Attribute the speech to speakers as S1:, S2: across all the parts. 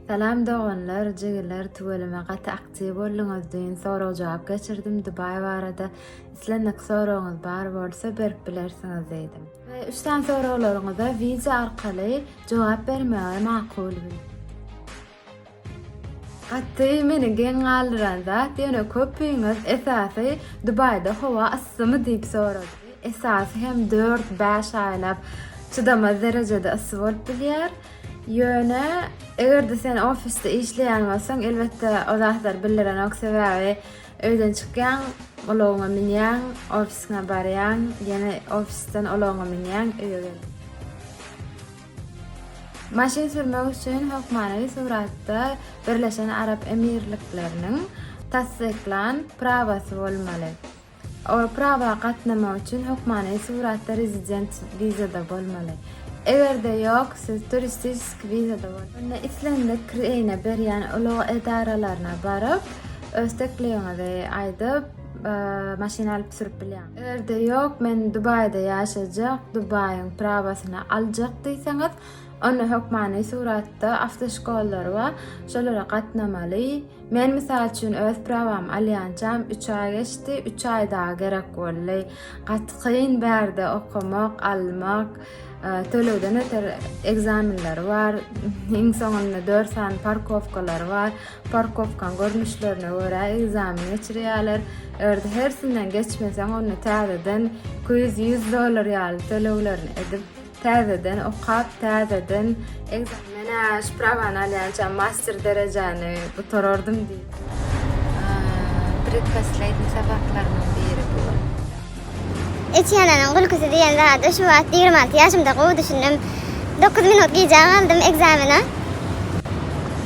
S1: Salam doganlar jigiler tüweleme gaty aktiw bolduňyz düýn sorag jogap geçirdim Dubai barada islendik soragyňyz bar bolsa berip bilersiňiz diýdim. Ve üç sany soraglaryňyza wiza arkaly jogap bermegi makul bildim. Gaty meni geň galdyran zat ýöne köpüňiz esasy Dubaýda howa yssymy diýip sorady. Esasy hem dört-bäş aýlap çydamaz derejede yssy bolup bilýär. Ýöne eger-de sen ofisde işleýän bolsaň, elbetde o zatlar bildirenok, sebäbi öýden çykýaň, ulagyňa münýäň, ofisiňe barýaň, ýene ofisden ulagyňa münýäň, öýe gelýäň. Maşyn sürmek üçin hökmany suratda Birleşen Arap Emirlikleriniň tassyklan prawasy bolmaly. Ol prawa gatnamak üçin hökmany suratda rezident wizada bolmaly. Eger-de ýok, siz turistiski wizada boluň. Onda islendik kireýne berýän ulag edaralaryna baryp, öz teklibiňizi aýdyp, maşyn alyp sürüp bilýäňiz. Eger-de ýok, men Dubaýda ýaşajak, Dubaýyň prawasyny aljak diýseňiz, onda hökmany suratda awtoşkollary bar, şolara gatnamaly. Men mysal üçin öz prawamy alýançam üç aý geçdi, üç aý dagy gerek boldy. Gaty kyn bärde okamak, almak, e, tölegden öter ekzamenleri bar. Iň soňunda dört sany parkowkalary bar. Parkowkaň görnüşlerine görä ekzamen geçirýärler. Eger hersinden geçmeseň, onda täzeden 200-100 dollar ýaly töleglerini edip Täzeden okap, täzeden ekzameni Men-ä sprawany alýança master derejäni gutarardym diýip. Predposlednýi sabaklarymyň biri bu.
S2: Etýanyň gülküsi diýen zady şu wagt ýigrimi alty ýaşymda gowy düşündim. Dokuz minut gijä galdym ekzamene.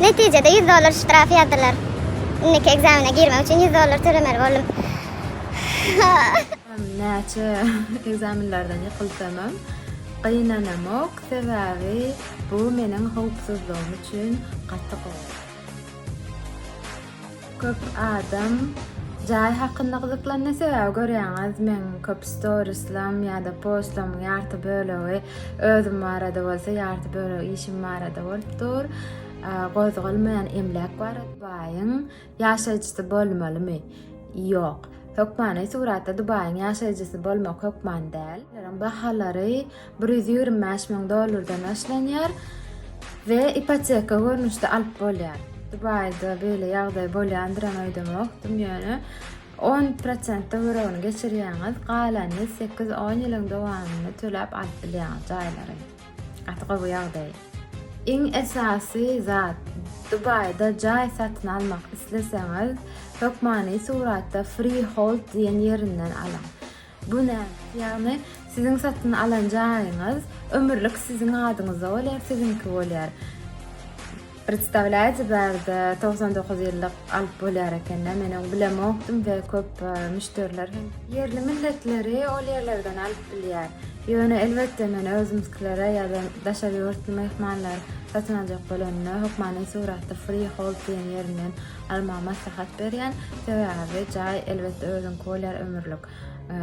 S2: Netijede ýüz dollar ştraf ýazdylar. Indiki ekzamene girmek üçin ýüz dollar tölemeli boldum.
S1: Näçe ekzamenlerden ýykylsamam, gynanamok, sebäbi bu meniň howpsuzlygym üçin gaty gowy. Köp adam jaý hakynda gyzyklanýar, sebäbi görýäňiz, meň köp storislerim ýa-da postlarymyň ýarty bölegi özüm barada bolsa, ýarty bölegi işim barada bolup dur. Gozgalmaýan emläk barada, baýyň Ýaşaýjysy bolmalymy? Ýok. Hökmany suratda Dubaýyň ýaşaýjysy bolmak hökman däl. Olaryň bahalary bir ýüz ýigrimi bäş müň dollardan başlanýar we ipoteka görnüşde alyp bolýar. Dubaýda beýle ýagdaý bolýandyram öýdemokdym, ýöne on prosent töweregini geçirýäňiz, galanyny sekiz-on ýylyň dowamynda töläp alyp bilýäňiz jaýlary. Gaty gowy ýagdaý. Iň esasy zat Dubaýda jaý satyn almak isleseňiz hökmany suratda Freehold diýen ýerinden alyň. Bu näme? Ýagny siziň satyn alan jaýyňyz ömürlik siziň adyňyzda bolýar, siziňki bolýar. Predstawlyaýjy barda togsan dokuz ýyllyk alyp bolýar ekende men oň bilemokdym we köp müşderiler hem ýerli milletleri ol ýerlerden alyp bilýär. Ýöne elbetde men özümzkilere ýa-da daşary ýurtly myhmanlar satyn aljak bolanda hökmany suratda Freehold diýen ýerinden almagy maslahat berýän. Sebäbi jaý elbetde özüňki bolýar ömürlik.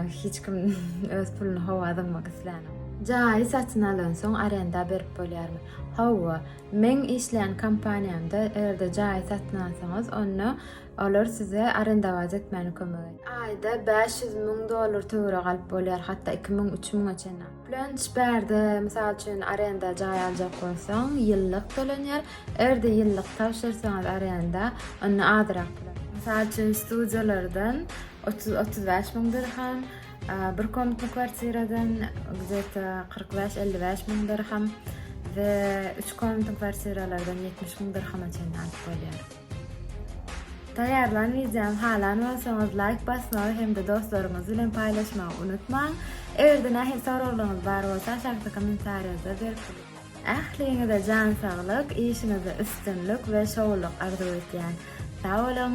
S1: Hiç kim öz puluny howa zyňmak islänok. Jaýy satyn alansoň arenda berip bolýarmy? Hawa, Meň işleýän kompaniýamda eger-de jaýy satyn alsaňyz, onda olar size arendawazy etmäne kömek edýär. Aýda bäş ýüz müň dollar töweregi alyp bolýar, hatda iki müň, üç müňe çenli alyp. Plönç bärde, mysal üçin, arenda jaý aljak bolsaň, ýyllyk tölenýär. Eger-de ýyllyk tabşyrsaňyz arenda, onda azyrak tölenýär. Mysal üçin, studiýalardan otuz, otuz bäş müň dirhem, Bir komentli kwartiradan gzeta 45-55 müň dirham we 3 komentli kwartiralardan 70 müň dirhama çenli alyp bolýar. Taýýarlan wideomy halan bolsaňyz laýk basmagy hem-de dostlaryňyz bilen paýlaşmagy unutmaň. Eger-de nähil soraglaryňyz bar bolsa, aşakda kommentariýada berip Ähliňize jan saglyk, işiňizde üstünlik we şowlyk arzuw etýän. Sag boluň!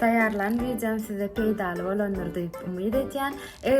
S1: Taýýarlan wideom size peýdaly bolandyr diýip umyt edýän.